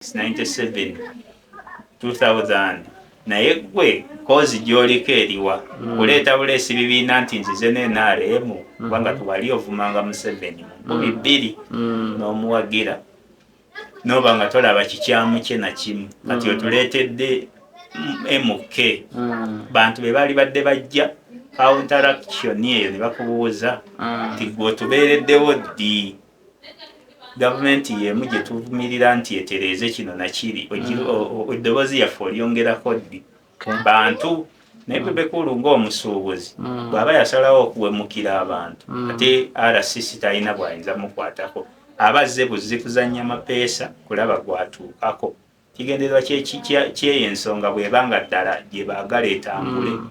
97 2000 naye gwe kozi gyoliko eriwa hmm. kuleeta buleesi bibiina nti nzize nenrm hmm. kubanga tewali ovumanga museveni mukubi hmm. bbiri n'omuwagira noba nga tolaba kikyamu kye nakimu kati otuleetedde mk bantu be baali badde bajja counteraction eyo ne bakubuuza nti gwe otubeereddewo ddi gavumenti yeemu gyetuvumirira nti etereeze kino nakiri mm. eddoboozi yaffe olyongerako ddi bantu naye mm. bebekulu ngaomusuubuzi mm. bwaba yasalawo okuwemukira abantu ate rcc talina bwayinza mukwatako aba azze buzzi kuzanya mapeesa kulaba gwatuukako Kigendererwa ky'eyo ensonga bw'eba nga ddala gye baagala etambule mm.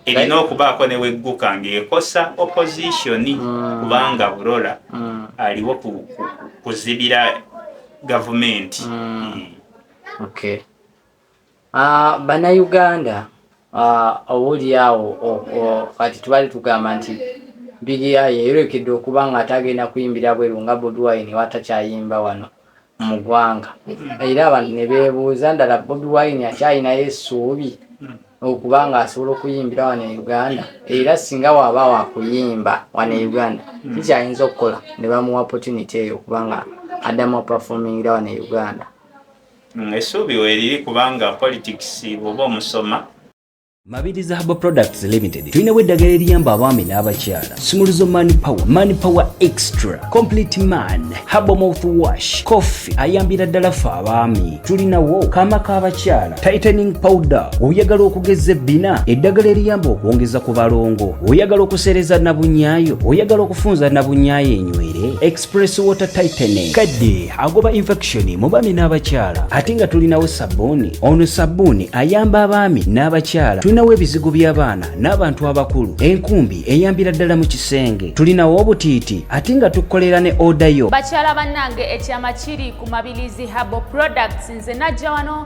erina okubaako ne wegguka ng'ekosa opozisoni mm. kubanga burola mm. aliwo kuzibira gavumenti. Ah, Bannayuganda Ah, obuuli awo o, o, kati tubali tugamba nti Billy Eye yeyolekedde okuba nga ate agenda kuyimbira bweru nga Bobi Wine watakyayimba wano mu gwanga era abantu ne bebuuza ndala Bobi Wine akyalinayo esuubi okuba nga asobola okuyimbira wano e Uganda era singa waba wakuyimba wano e Uganda kikyayinza okukola ne bamuwa opportunity eyo okuba nga addamu performingira wano e Uganda. Mm, essuubi weeriri kubanga politics bwoba omusoma Mabirizi Herbal Products Limited tulinawo eddagala eriyamba abaami n'abakyala sumuluzo man power man power extra complete man herbal mouth wash coffee ayambira ddala ffe abaami tulinawo kaama k'abakyala tightening powder oyagala okugeza ebbina eddagala eriyamba okwongeza ku balongo oyagala okuseereza nabunyaayo oyagala okufunza nabunyaayo enywere Press water tightening kadde agoba infection mu baami n'abakyala ate nga tulinawo sabbuuni ono sabbuuni ayamba abaami n'abakyala tulinawo ebizigo by'abaana n'abantu abakulu enkumbi eyambira ddala mu kisenge tulinawo obutiiti ate nga tukolera ne oda yo bakyala bannange ekyama kiri ku mabilizi habo products nze najja wano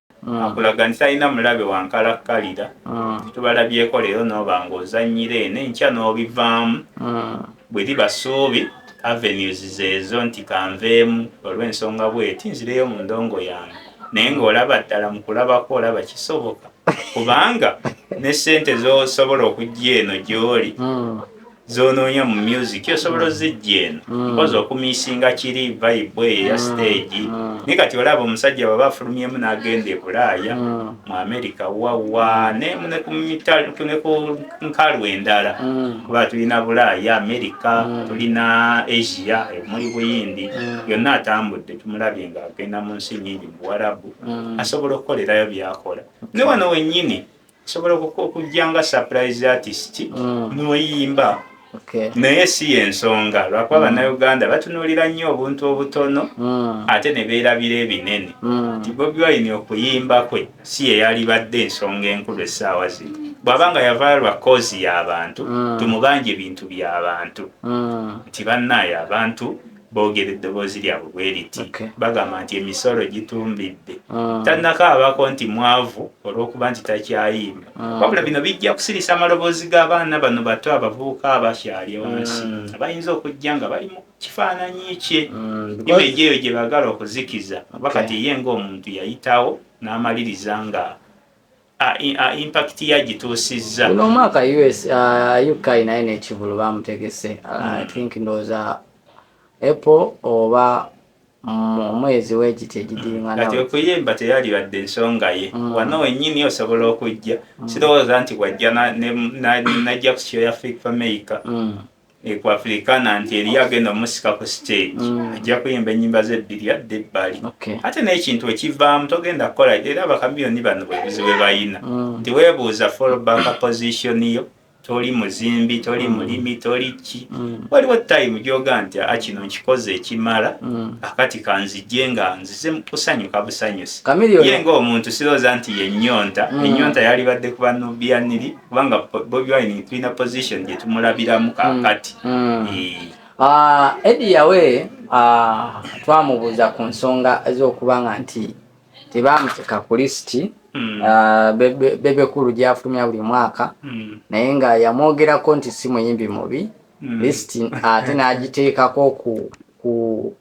mm. akulaga nti talina mulabe wankalakkalira mm. tubalabyeko leero nooba ng'ozannyira eno enkya n'obivaamu mm. bwe liba ssuubi avenues zeezo nti kanveemu olw'ensonga bweti nzireyo mu ndongo yange naye ng'olaba ddala mu kulabako olaba kisoboka kubanga ne ssente z'osobola okujja eno gy'oli mm. zonoonya mu music osobola ozijja eno mm. mpozi okumisinga kiri vibe eyo ya mm. stage mm. ni kati olaba omusajja baba afulumyemu n'agenda ebulaaya mu america wawa ne ku nkalu endala kuba tulina bulaaya america tulina asia muli buyindi yonna atambudde tumulabye nga agenda mu nsi nyingi mu warabu asobola okukolerayo byakola ne wano wennyini osobola okujja nga surprise artist mm. noyimba naye si yensonga lwakuba mm. bannayuganda batunuulira nnyo obuntu obutono mm. ate ne beerabira ebinene mm. nti bobi wine okuyimba kwe si yeyalibadde ensonga enkulu essaawa zino bwaba nga yavaayo lwa koozi y'abantu tumubanja ebintu by'abantu nti bannaayo abantu boogera eddoboozi lyabwe bwe liti okay. bagamba nti emisolo gitumbidde mm. tannakaabako nti mwavu olw'okuba nti takyayimba mm. wabula bino bijja kusirisa amaloboozi g'abaana bano bato abavubuka abakyali wansi mm. abayinza okujja nga bali mu kifaananyi kye mm. imeji eyo gye bagala okuzikiza oba okay. kati ye ng'omuntu yayitawo n'amaliriza nga impact ya gituusizza guno omwaka us uh, uk naye nekivulu bamutegese uh, hmm. i think ndowooza apple oba omwezi wekiti egidiringanakuyimba teyalibadde ensonga ye mm. wano wenyini osobola okujja mm. sirowooza nti wajja najja ku show ya fik fameica mm. ekwafirikana nti eriyo agenda omusika ku stage mm. ajja kuyimba enyimba zebbiri adde ebbali ate n'ekintu ekivaamu togenda kukola era bakamiyoni bano bwebuzi bwe bayina mm. nti webuuza fallback position yo toli muzimbi toli mm. mulimi toli ki waliwo time gyoga nti a ah, kino nkikoze ekimala akati kanzije nga nzize kusanyuka busanyusi ye ngaomuntu sirooza nti yenyonta enyonta yalibadde kubanubianiri kubanga bobi wine tulina position gyetumulabiramu mm. kakati mm. ah, edi yawe ah, twamubuuza ku nsonga ezokuba nga nti tebamuteeka ku lisiti mm. ah, bebekulu gyafulumya buli mwaka naye nga yamwogerako nti si muyimbi mubi lisiti ate n'agiteekako ku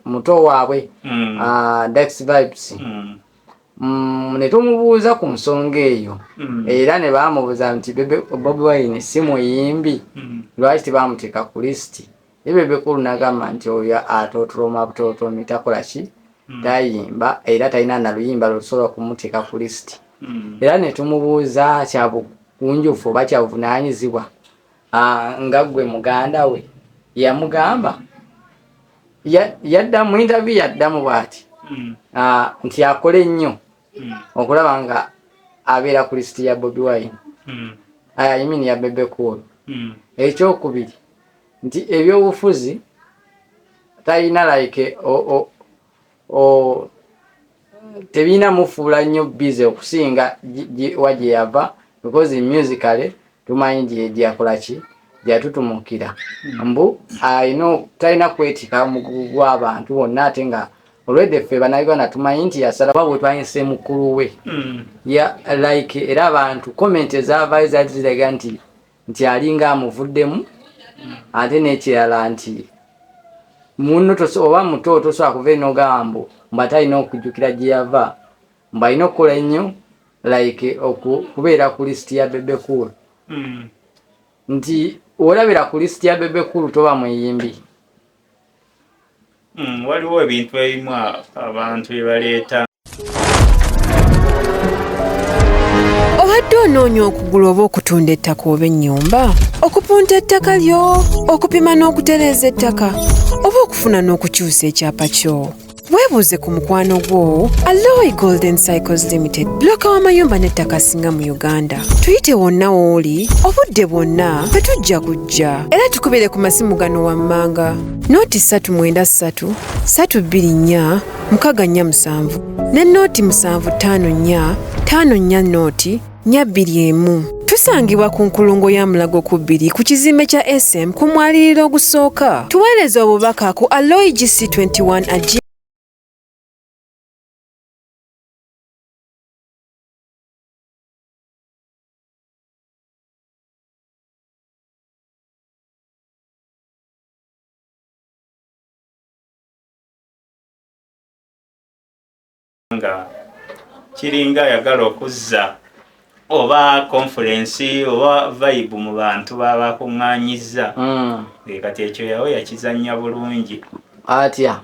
muto waabwe dex vibes mm, ne tumubuuza ku nsonga eyo mm. era ne baamubuuza nti bobi wine si muyimbi mm. lwaki tebaamuteeka ku lisiti ye bebekulu nagamba nti oyo atotoloma butotomi takola ki mm. tayimba era talina naluyimba lwetusobola kumuteeka ku lisiti mm. era ne tumubuuza kyabugunjufu oba kyabuvunanyizibwa ah, nga gwe muganda we yamugamba yadda mu interview yaddamu bwati hmm. ah, nti akole nnyo hmm. okulaba nga abeera ku lisiti ya bobi wine hmm. ah, imin ya bebe cool ekyokubiri nti ebyobufuzi talina like tebirina mufuula nnyo bize okusinga wa gye yava because musically tumanyi gyakola ki gyatutumukira mbu ayina talina kwetika omugugu gw'abantu wonna ate nga olwedde ffe banauganda tumanyi nti yasalawa bwe twayinsa mukulu we mm. ya like era abantu komenti ezavaayo zaali ziraga nti nti alinga amuvuddemu ate nekirala nti muno oba muto tosobola kuva enogamba mbu mba talina okujjukira gye yava mbu alina okukola ennyo like okubeera ku lisiti ya bebe cool hmm. nti olabira ku lisiti ya bebe cool toba muyimbi Hmm, waliwo ebintu ebimu abantu bye baleeta obadde onoonya okugula oba okutunda ettaka oba ennyumba okupunta ettaka lyo okupima n'okutereeza ettaka oba okufuna n'okukyusa ekyapa kyo weebuuze ku mukwano gwo alloy golden cycles limited buloka w'amayumba n'ettaka asinga mu uganda tuyite wonna w'oli obudde bwonna fe tujja kujja era tukubere ku masimu gano wammanga nooti 393 324 64 musanvu ne nooti 754 54 nooti nya bbiri emu. Tusangibwa ku nkulungo ya Mulago ku bbiri ku kizimbe kya SM ku mwaliriro ogusooka. Tuweereza obubaka ku aloigc 21 nga kiringa ayagala okuzza oba conference oba vibe mu bantu babakuŋŋanyizza hmm. kati ekyo yawo yakizannya bulungi atya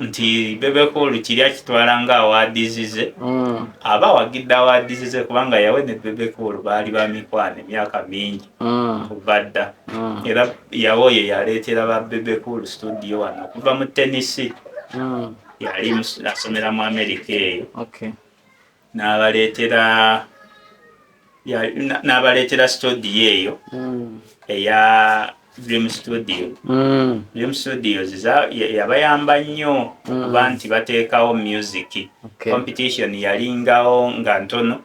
nti bebekulu kiri akitwala nga awadizize mm. aba awagidde awadizize kubanga yawe ne bebekulu baali bamikwana emyaka mingi mm. kuva dda mm. era yawe oyo yaleetera ba bebekulu studio wano okuva mu tenisi mm. yali asomera mu amerika eyo nabaleetera nabaleetera studio eyo hmm. eya dream studio hmm. dream studios yabayamba nnyo hmm. kuba nti bateekawo music competition yalingawo nga ntono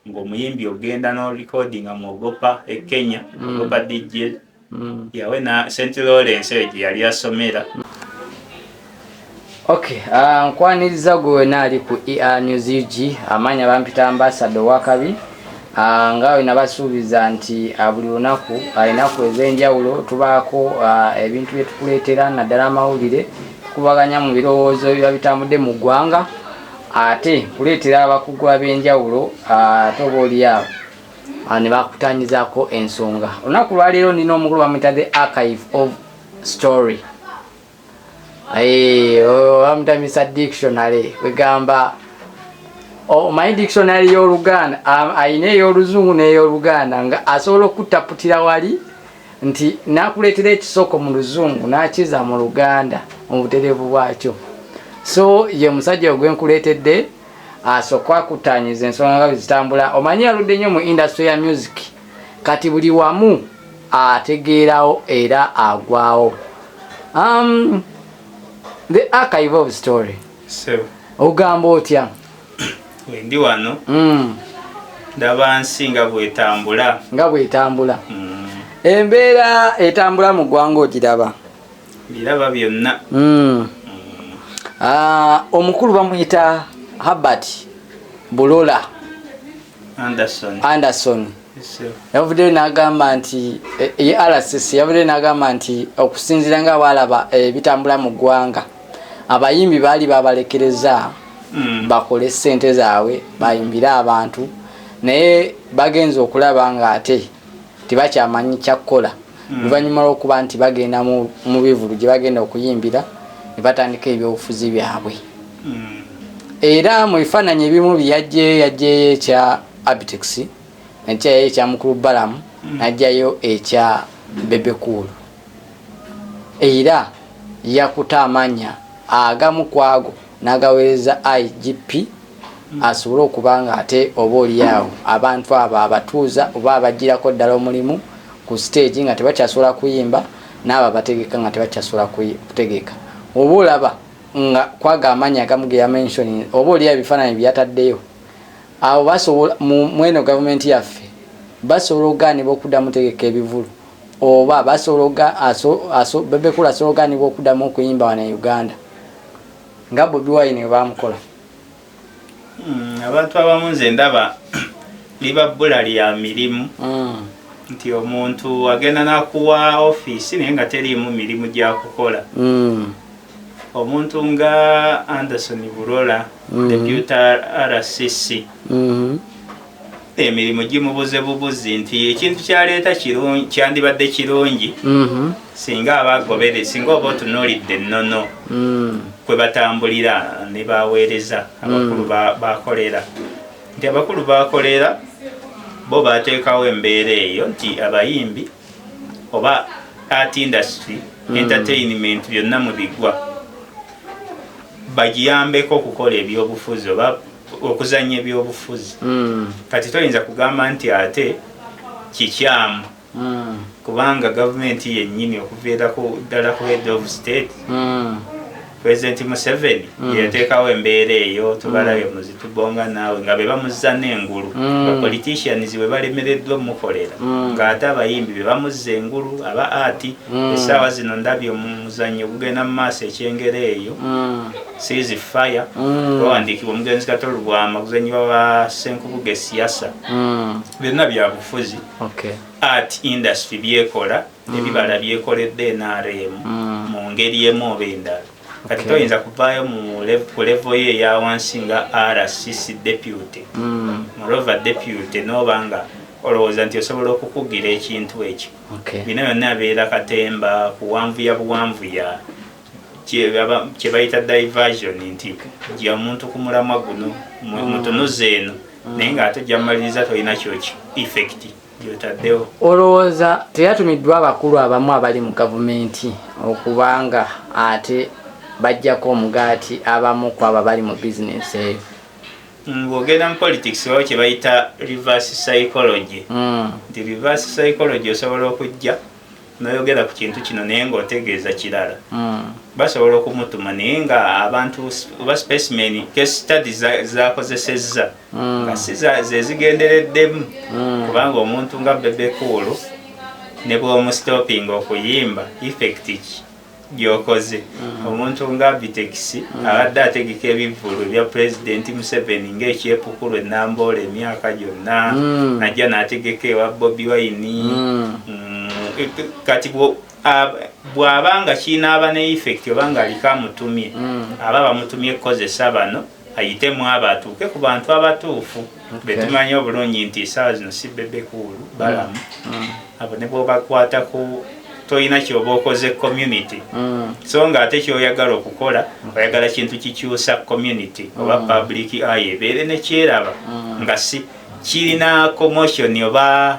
ng'omuyimbi ogenda no recordinga mu ogopa e kenya mm. ogopa dj mm. yawe na st lawrence eyo gye yali asomera ok uh, nkwaniriza gwe wena ali ku er news ug amaanyi abampita ambasada owakabi uh, nga wena basuubiza nti uh, buli lunaku alinaku uh, ez'enjawulo tubaako uh, ebintu bye tukuleetera naddala amawulire tukubaganya mu birowoozo biba bitambudde mu ggwanga ate kuleetera abakugu ab'enjawulo ate oba oliawo ah, ne bakutanyizako ensonga olunaku lwaleero nina omukulu bamuyita the archive of story eh, oh, bamuyita mr dictionary kwegamba omanyi oh, dictionary y'oluganda alina ey'oluzungu n'ey'oluganda nga asobola okutaputira wali nti nakuleetera ekisoko mu luzungu n'akiza mu luganda mu butereevu bwakyo so ye musajja ogwe nkuleetedde asooka akutaanyiza ensonga nga zitambula omanyi yaludde nnyo mu indasitry ya music kati buli wamu ategeerawo era agwawo um, the archive of story ogamba otya wendi wano mm. ndaba nsi nga bwetambula nga bwetambula mm. embeera etambula mu ggwanga ogiraba biraba byonna mm. ah, omukulu bamuyita habert bulola anderson yavuddeyo n'agamba nti e, ye rcc yavuddeyo n'agamba nti okusinziira nga baalaba ebitambula eh, mu ggwanga abayimbi baali babalekereza mm. bakole ssente zaabwe bayimbire abantu naye bagenza okulaba nga ate tebakyamanyi kyakukola mm. oluvannyuma lw'okuba nti bagenda mu bivulu gye bagenda okuyimbira ne batandika ebyobufuzi byabwe mm. era mu bifaananyi ebimu byeyajjeyo yajjeyo ekya Abitex najjayo ekya mukulu Balamu mm. najjayo ekya bebekuulu era yakuta amanya agamu kwago nagawereza igp mm. asobole okuba nga ate oba olyawo abantu abo abatuuza oba abajjirako ddala omulimu ku siteegi nga tebakyasobola kuyimba naabo abategeka nga tebakyasobola kutegeka oba olaba nga kwaga amanya agamu geyamensioni oba olyawo ebifaananyi byeyataddeyo Awo basobola mweno gavumenti yaffe basobola okugaanibwa okuddamu tegeka ebivulu oba basobola bebekula asobola okugaanibwa okuddamu okuyimba wano e uganda nga bobi wine we bamukola hmm, abantu abamu nze ndaba liba bbula lya mirimu hmm. nti omuntu agenda nakuwa ofiisi naye nga teriimu mirimu gyakukola hmm. omuntu nga anderson burola mm-hmm. deputa rcc mm-hmm. emirimu gimubuze bubuzi nti ekintu kyaleeta kyandibadde kirungi mm-hmm. singa abagobere singa oba otunuulidde ennono mm. kwe batambulira ne baweereza mm. abakulu bakolera nti abakulu bakolera bo bateekawo embeera eyo nti abayimbi oba art industry mm. entertainment byonna mubiggwa bagiyambeko okukola ebyobufuzi oba okuzanya ebyobufuzi mm. kati toyinza kugamba nti ate kikyamu mm. kubanga gavumenti yennyini okuviirako ddala ku head of state mm. pulezidenti museveni mm. yeyateekawo embeera eyo tubalabye mm. muzitubonga naawe nga be bamuzza n'engulu mm. bapoliticians bwe balemereddwa omukolera ng'ate abayimbi be bamuzza engulu aba ati essaawa zino ndabye omuzannyo gugenda mu maaso ekyengera eyo seas fire bawandiikibwa omugenzi kato lubwama guzannyibwa ba senkubuga esiyasa byonna byabufuzi art industry byekola ebibala mm. byekoledde nrm mm. mu ngeri emu oba endala kati toyinza kuvaayo ku levo yo eyawansi nga rcc deputy mm. morova deputy noba nga olowooza nti osobola okukugira ekintu ekyo bino byonna abeera katemba kuwanvuya buwanvuya kyebayita diversion nti ja omuntu ku mulamwa guno mutunuza eno naye nga ate jamaliriza tolina kyoki effecti gyotaddewo olowooza teyatumiddwa abakulu abamu abali mu gavumenti okubanga ate bajjako omugaati abamu ku abo abali mu bizinensi eyo ng'ogenda mu politics wao kye bayita reverse psychology hmm. nti reverse psychology osobola okujja noyogera ku kintu kino naye nga otegeeza kirala hmm. basobola okumutuma naye nga abantu oba specimen case study zakozesezza hmm. nga si zezigendereddemu hmm. kubanga omuntu nga bebekuulu ne bwomustopping okuyimba effect ki gyokoze mm. omuntu nga Abitex mm. abadde ategeka ebivvulu bya pulezidenti Museveni ng'ekyepukulu enamboola emyaka gyonna mm. najja n'ategeka ewa Bobi Wine kati bw'aba nga kinaaba ne effect oba ng'aliko amutumye aba bamutumye kukozesa bano ayite mwabo atuuke ku bantu abatuufu betumanyi obulungi nti esaawa zino si bebekuulu balamu mm. mm. abo ne bwobakwatako tolina kyoba okoze community mm. so nga ate kyoyagala okukola oyagala kintu kikyusa community oba public aye ebeere nekyeraba nga si kirina commotion oba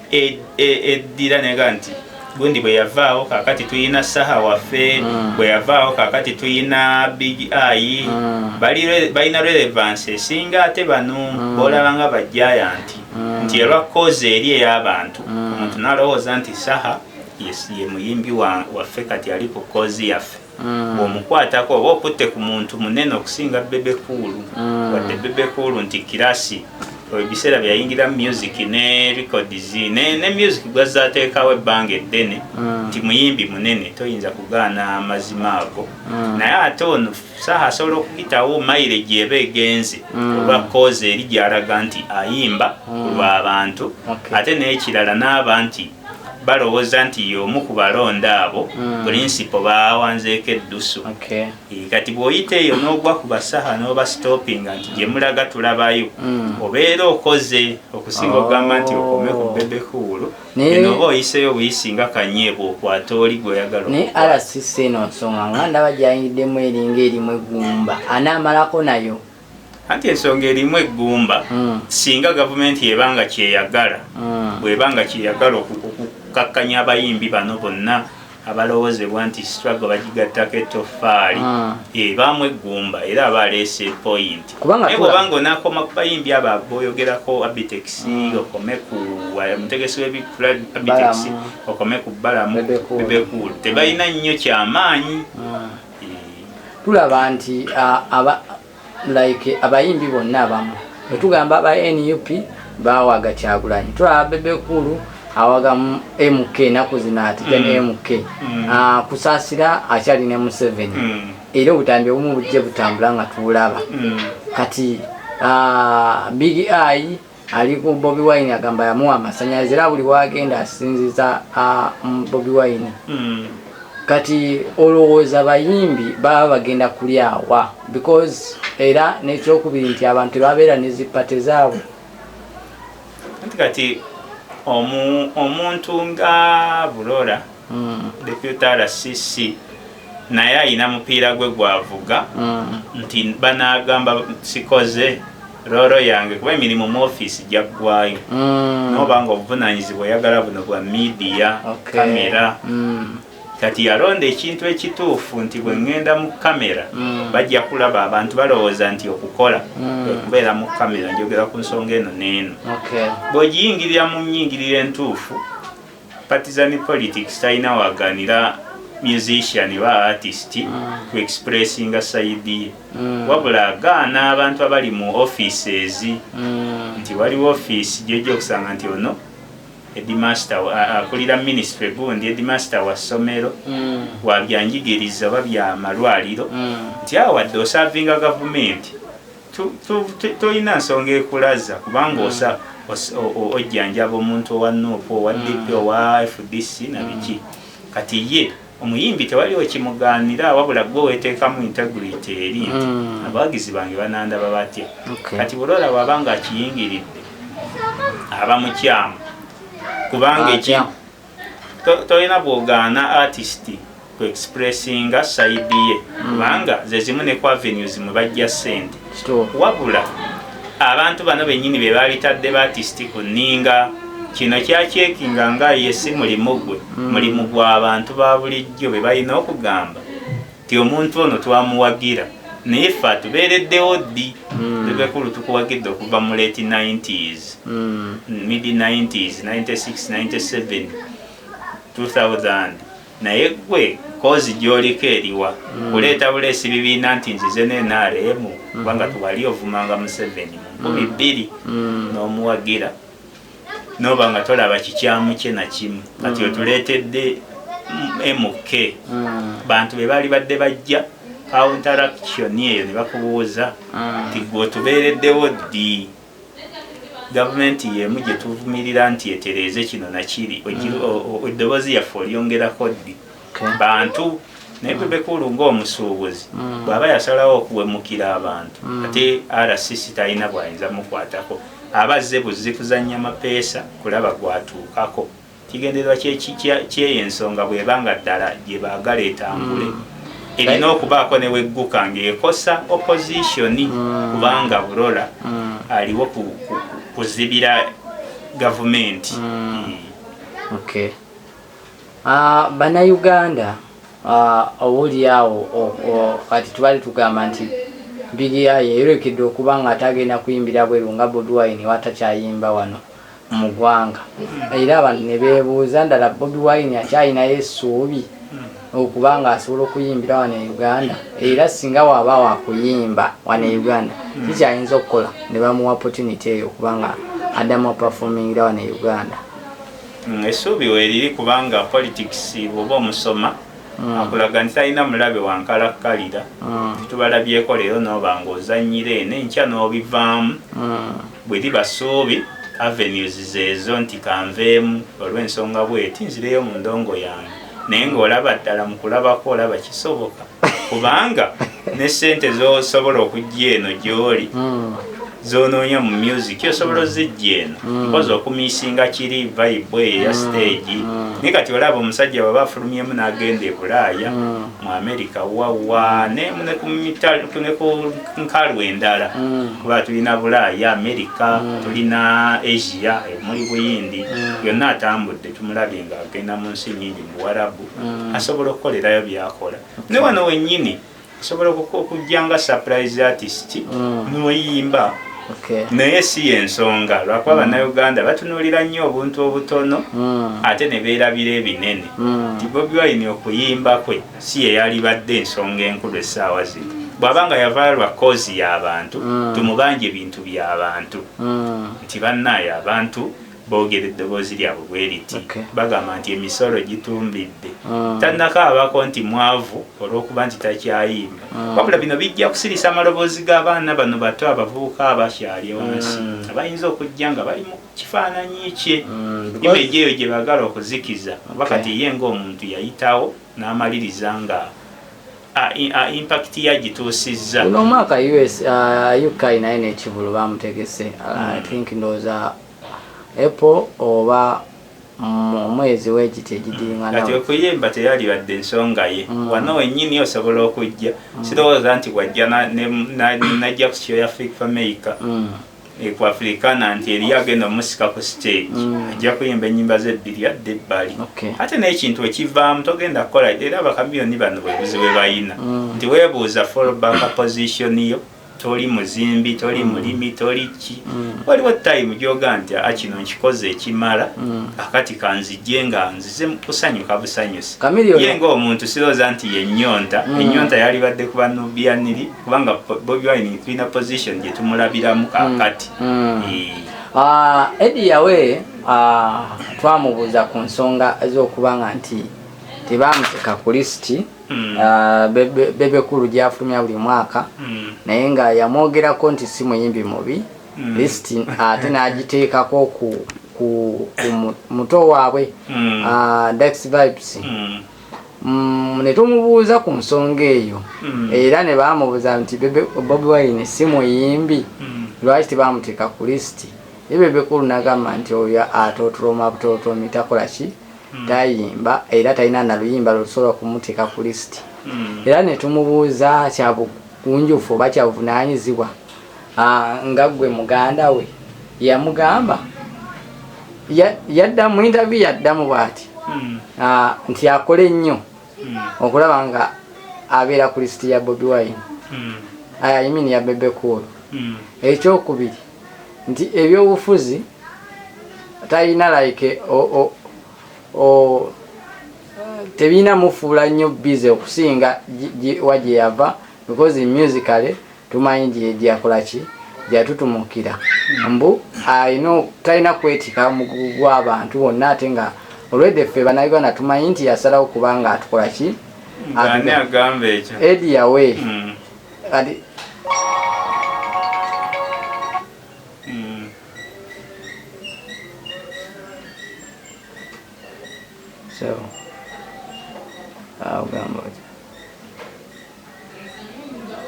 e, e, eddira e, nega nti gundi bwe yavaawo kakati tulina saha waffe mm. bwe yavaawo kakati tulina big ai mm. balina relevance esinga ate bano mm. bolaba nga bajayanti mm. nti elwa kozi eri ey'abantu mm. omuntu nalowooza nti saha ye muyimbi waffe kati ali ku kozi yaffe Mm. bw'omukwatako oba okutte ku muntu munene okusinga bebe kuulu mm. wadde bebe kuulu nti kirasi oyo biseera byeyayingira mu music ne records ne, ne music gwazza ateekawo ebbanga eddene mm. nti muyimbi munene toyinza kugaana amazima ago naye ate ono saha asobola okuyitawo mayire gyeba egenze olwa koozi eri gyalaga nti ayimba kulwa abantu ate n'ekirala n'aba nti balowooza nti y'omu ku balonda abo mm. pulinsipo baawanzeeko eddusu okay. kati bw'oyita eyo n'ogwa ku basaha n'obasitopinga nti gye mulaga tulabayo mm. obeera okoze okusinga oh. okugamba nti okome ku bebekuulu eno oba oyiseeyo buyisi nga kanyeebwa okwata oli gweoyagala naye rcc eno nsonga nga ndaba gyayingiddemu eringa erimu eggumba anaamalako nayo anti ensonga erimu eggumba hmm. singa gavumenti ebanga kyeyagala hmm. bwebanga kyeyagala okukakkanya abayimbi bano bonna abalowozebwa nti struggle bagigattako ettofaali ah. ebaamu eh, eggumba era aba aleese point naye bwobanga onakoma ku bayimbi abo aboyogerako abitex ah. okome ku eh, mutegesi wabitex okome ku balamu bebekulu tebalina nnyo kyamaanyi ah. tulaba nti like abayimbi bonna abamu bwetugamba aba nup bawaga kyagulanyi tulaba bebekulu awaga mk enaku zino atija ne mk mm. mm. kusasira akyali ne museveni mm. era obutambi obumu bujje butambula nga tuulaba kati big eye ali ku Bobi Wine agamba yamuwa amasanyalaze era buli wagenda asinziza Bobi Wine hmm. kati olowooza bayimbi baba bagenda kulyawa because era nekyokubiri nti abantu tebabeera nezipate zaabwe kati omuntu nga bulora hmm. deputy rcc naye ayina mupiira gwe gwavuga hmm. nti banagamba sikoze Roro yange kuba emirimu mu ofiisi gyaggwayo mm. noba nga obuvunaanyizibwa oyagala buno bwa midiya kamera mm. kati yalonda ekintu ekituufu nti bwe ŋŋenda mu kamera mm. bajja kulaba abantu balowooza nti okukola okubeera mu kamera njogera ku nsonga eno n'eno bw'ogiyingirira mu nnyingirira entuufu Partisan politics talina waganira musician ba artist mm. ku expressinga side ye mm. wabula agaana abantu abali mu offices mm. nti waliwo office gyoja okusanga nti ono edimaster akulira uh, ministry gundi edimaster wa ssomero mm. wabyanjigiriza oba byamalwaliro mm. nti awo wadde osavinga gavumenti tolina nsonga ekulaza kubanga mm. osa ojjanjaba omuntu owa nup owa mm. dp owa fdc nabiki mm. kati ye omuyimbi tewali okimuganira wabula gwe wetekamu integrity eri nti abawagizi bange banandaba batya kati bulora waba nga akiyingiridde aba mukyamu kubanga tolina bwogaana artist ku expressinga side ye hmm. kubanga zezimu ne ku avenues mwe bajja sente wabula abantu bano benyini be baabitadde ba artist ku ninga kino kyakyekinga nga ye si mulimu gwe hmm. mulimu gwa bantu ba bulijjo be balina okugamba ti omuntu ono twamuwagira naye ffe atubeereddewo ddi hmm. ebekulu tukuwagidde okuva mu late 90s hmm. mid 90s 96 97 2000 naye gwe kozi gyoliko eriwa hmm. kuleeta buleesi bibiina nti nzize nenaremu kubanga tuwali ovumanga museveni mu nkumi bbiri n'omuwagira noba nga tolaba kikyamu kye nakimu kati mm. otuleetedde mk mm. bantu be baali badde bajja counteraction eyo ne bakubuuza mm. nti gwe otubeereddewo ddi gavumenti yemu gye tuvumirira nti etereeze kino nakiri eddoboozi yaffe olyongerako ddi bantu naye bebekulu ngaomusuubuzi mm. bwaba yasalawo okuwemukira abantu mm. ate rcc talina bwayinza mukwatako aba azze buzzi kuzanya mapeesa kulaba gwatuukako kigendererwa kyeyo ensonga bweba nga ddala gyebagala etambule mm. erina okubaako newegguka ngaekosa opozisioni kubanga burola aliwo kuzibira gavumenti Bannayuganda oboolyawo kati tubadde tugamba nti Big Eye yayolekedde okuba ng'ate agenda kuyimbira bweru nga Bobi Wine wa takyayimba wano mu ggwanga era abantu ne beebuuza ddala Bobi Wine akyalinayo essuubi okuba ng'asobola okuyimbira wano e Uganda era singa waaba waakuyimba wano e Uganda kikyayinza okukola ne bamuwa opportunity eyo okuba nga addamu apafumingira wano e Uganda. Mm, essuubi weeriri kubanga politics oba omusoma mm. akulaga nti talina mulabe wankalakkalira mm. titubalabyeko leero nooba ngaozanyira eno enkya n'obivaamu bwe liba ssuubi avenues zeezo nti kanveemu olw'ensonga bweti nzireyo mu ndongo yange naye ng'olaba ddala mu kulabako olaba kisoboka kubanga ne sente zosobola okujja eno gyoli hmm. zonoonya mu music osobola ozijja eno hmm. mpozi okumisinga kiri vibe eyo eya hmm. stage naye kati olaba omusajja bwaba afulumyemu n'agenda ebulaaya mu amerika wawa ne ku nkalu endala kuba tulina bulaaya amerika tulina asia muli buyindi yonna atambudde tumulabye nga agenda mu nsi nyingi mu warabu mm. asobola okukolerayo byakola ne wano wenyini osobola okujja nga surprise artist mm. noyimba naye si yensonga lwakuba mm. bannayuganda batunulira nnyo obuntu obutono mm. ate ne beerabira ebinene nti bobi wine okuyimba kwe si yeyalibadde ensonga enkulu essaawa zino bwaba nga yavaayo lwa koozi y'abantu tumubanja ebintu by'abantu nti bannaayo abantu boogera eddoboozi lyabwe bwe liti bagamba nti emisolo gitumbidde ah. tannakaabako nti mwavu olw'okuba nti takyayimba ah. wabula bino bijja kusirisa amaloboozi g'abaana bano bato abavubuka abakyali wansi hmm. abayinza okujja nga bali mu kifaananyi kye hmm, imeji eyo gye bagala okuzikiza oba kati ye ng'omuntu yayitawo n'amaliriza nga impakiti yagituusizza guno omwaka uk uh, naye nekivulu bamutegese uh, hmm. think ndowooza Apple oba mu mwezi wekiti egidinganaati okuyimba teyalibadde ensonga ye mm. wano wenyini osobola okujja mm. sirowooza nti wajja najja ku kyoya fik fameica mm. e, ku afrikana nti eriyo agenda omusika ku stage ajja kuyimba enyimba ze ebbiri adde ebbali ate n'ekintu ekivaamu togenda kukola era bakamiyoni bano bwebuzi bwe bayina nti webuuza fallback position yo toli muzimbi toli mm. mulimi toli ki mm. waliwo time gyoga nti a kino nkikoze ekimala mm. akati kanzijje nga nzize kusanyuka busanyusi ye nga omuntu siroza nti yenyonta enyonta yalibadde ku banubianiri kubanga bobi wine tulina position gye tumulabiramu kakati ah, edi yawe ah, twamubuuza ku nsonga ez'okubanga nti tebamuteeka ku lisiti mm. ah, bebe kulu gyafulumya buli mwaka mm. naye nga yamwogerako nti si muyimbi mubi mm. list ate nagiteekako ku muto waabwe ah, dax vibes Mm, ne tumubuuza ku nsonga eyo mm. era ne bamubuuza nti bobi wine si muyimbi mm. lwaki tebamuteeka ku lisiti ye bebekulu nagamba nti oyo atotoloma butotomi takola ki tayimba era talina na luyimba lwe tusobola okumuteeka ku lisiti era ne tumubuuza kya bugunjufu oba kya buvunaanyizibwa ah, nga ggwe muganda we yamugamba yadda mu intaviyu yaddamu bwati hmm. ah, nti akole nnyo hmm. okulaba nga abeera ku lisiti ya bobi wine hmm. ayaimini ah, ya bebe kuulu ekyokubiri nti ebyobufuzi talina like tebirina mufuula nnyo bize okusinga wa gye yava because musically tumanyi gyakola ki gyatutumukira mbu alina talina kwetika omugugu gw'abantu bonna ate nga olwedde ffe banauganda tumanyi nti yasalawo kubanga atukola ki edi yawe mm. Adi. Mm. So. Au gambo.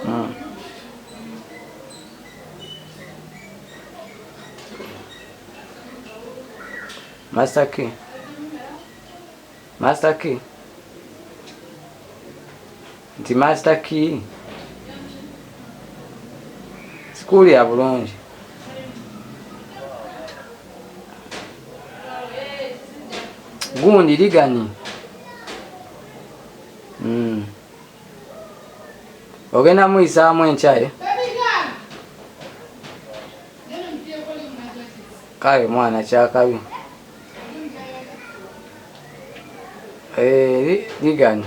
Mm. Master Key. Master Key. nti master key sikuuli ya bulungi gundi liganyi mm. ogenda muyisaamu enkyaye kale mwana kyakabi eh, liganyi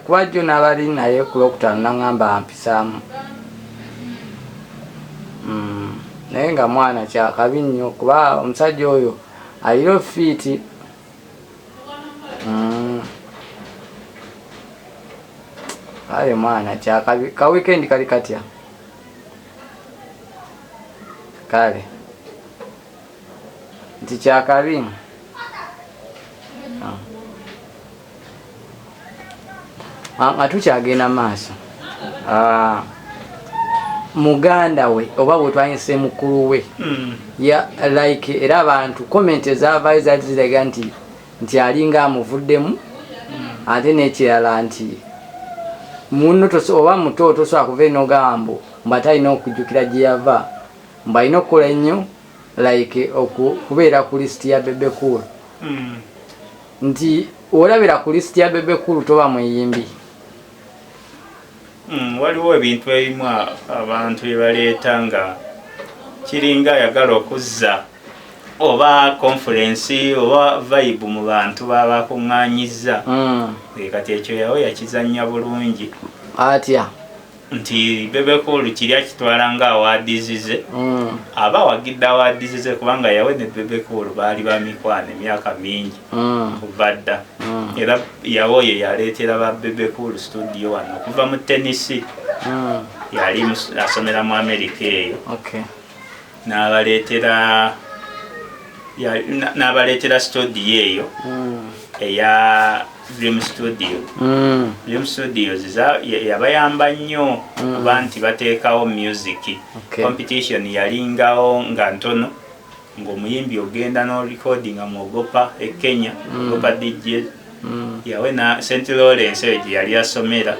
kuba jjo nabali naye ku lwokutaano naŋamba ampisaamu mm, naye nga mwana kyakabi nnyo kuba omusajja oyo alina ofiiti mm. aye mwana kyakabi ka wikendi kali katya kale nti kyakabi ah, nga tukyagenda maaso ah, muganda we oba wetwayinse mukulu we hmm. ya like era abantu comment ezavayo zali ziraga nti nti alinga amuvuddemu hmm. ate nekirala nti muno oba muto tosobola kuva enogamba mbu atalina okujjukira gyeyava Mbu alina okukola ennyo like okubeera ku list ya Bebe Cool. Hmm. Nti olabira ku list ya Bebe Cool toba muyimbi. Hmm, waliwo ebintu ebimu abantu bye baleeta nga kiringa ayagala okuzza oba conference oba vibe mu bantu babakuŋŋanyizza hmm. kati ekyo yawe yakizannya bulungi atya nti bebekoolu kiri akitwala nga awaadizize mm. aba awagidde awaadizize kubanga yawe ne bebekoolu baali bamikwano emyaka mingi mm. kuva dda mm. era yawe oyo yaleetera ba bebekoolu studio wano okuva mu tenisi yali asomera mu amerika eyo n'abaleetera n'abaleetera studio eyo hmm. eya dream studio hmm. dream studios yabayamba nnyo hmm. kuba nti bateekawo music competition yalingawo nga ntono ng'omuyimbi ogenda n'orecordinga mu ogopa e kenya ogopa dj yawena st lawrence eyo gye yali asomera